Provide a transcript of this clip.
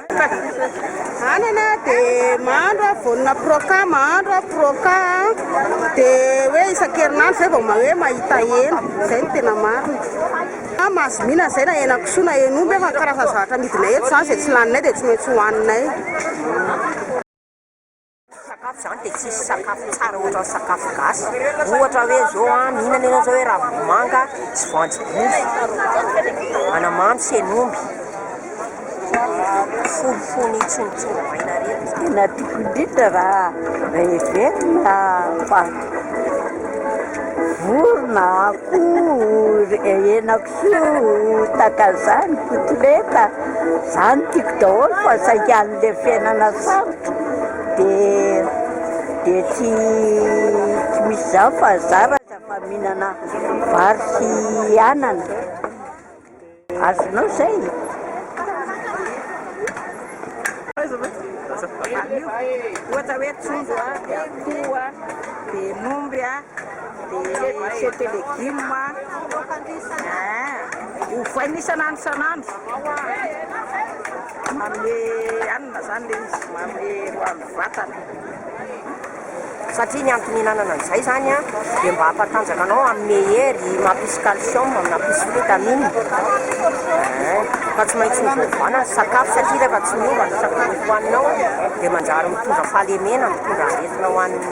Anana dia mahandro aho vonona proca mahandro aho proca dia hoe isan-kerinandro izay vao hoe mahita hena izay no tena marina fa mahazo mihinana izay na henakisoa na hen'omby fa ny karazana zavatra amidinay eto izany izay tsy laninay dia tsy maintsy hohaninay Tsy sakafo zany dia tsisy sakafo tsara ohatran'ny sakafo gasy, ohatra hoe zao an, mihinana ianao zao hoe ravim-bomanga sy voanjobory, anamamy sy hen'omby, fonofony tsontsoro maina reny no tena tokony indrindra raha heverina fa vorona, akoho, hena. Tsy ho taka zany kotoleta zany tiko daholo fa saingy anle fiainana sarotra de de tsy tsy misy zany fa za raha fa mihinana vary sy anana azonao zay e! Dia cepe légumes a, eh, ovaina isan'andro isan'andro, manome hanina izany ilay izy, manome hoan'ny vatana. Satria ny antony ihinanana an'izay izany an, dia mba hampatanjaka anao, hanome hery, mampisy calcium, mampisy vitamines, eh, ka tsy maintsy ovaovana ny sakafo satria rehefa tsy miova ny sakafo hohaninao dia manjary mitondra fahalemena, mitondra aretina ho an'ny.